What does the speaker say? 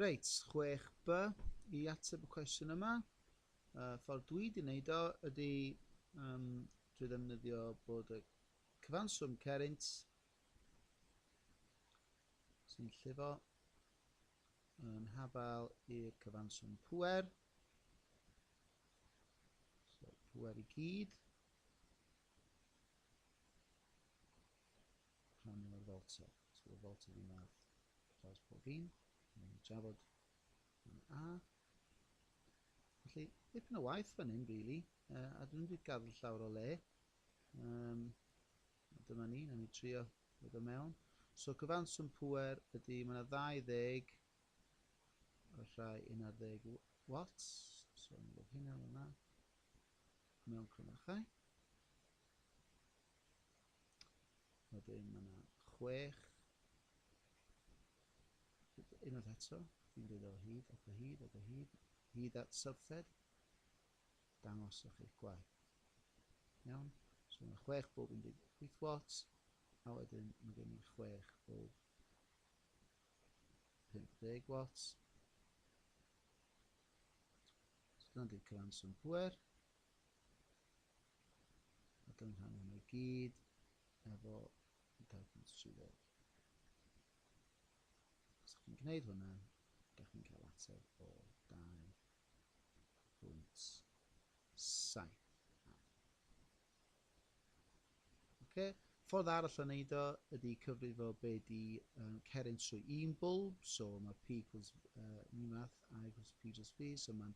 Reit, 6b i ateb y cwestiwn yma. Y ffordd dwi wedi wneud o ydy um, drwy ddefnyddio bod y cyfanswm cerint sy'n llifo yn hafal i'r cyfanswm pwer. So, pwer i gyd. Rhannu ar felter. Os bydd y felter un ar draws pob un, rhaid ni drafod yn A. Felly, dipyn o waith fan hyn, really, uh, a dwi'n wedi gadw llawr o le. Um, dyma ni, na ni trio ddod o mewn. So cyfanswm pwer ydy, mae yna 20 y rhai 11 watts, so yn bod hynna yna, mewn crymachau. Wedyn mae yna chwech. Unwaith eto, fi'n dweud o hyd, ac o hyd, ac o hyd, hyd at sylffed. Dangoswch eich gwaith. Iawn? So mae yna chwech bob 18 watts, a wedyn mae gen i chwech bob 50 watts. So dyna di cyfanswm pwer. a gynghrair yma i gyd efo dadanswyddog. Os ydych chi'n gwneud hwnna, ydych chi'n cael ateb o 2.7. Okay. Ffordd arall o wneud o ydy cyfrifo be di um, ceryn trwy un bwlb, so mae P equals uh, ni math, I equals P just V, so mae'n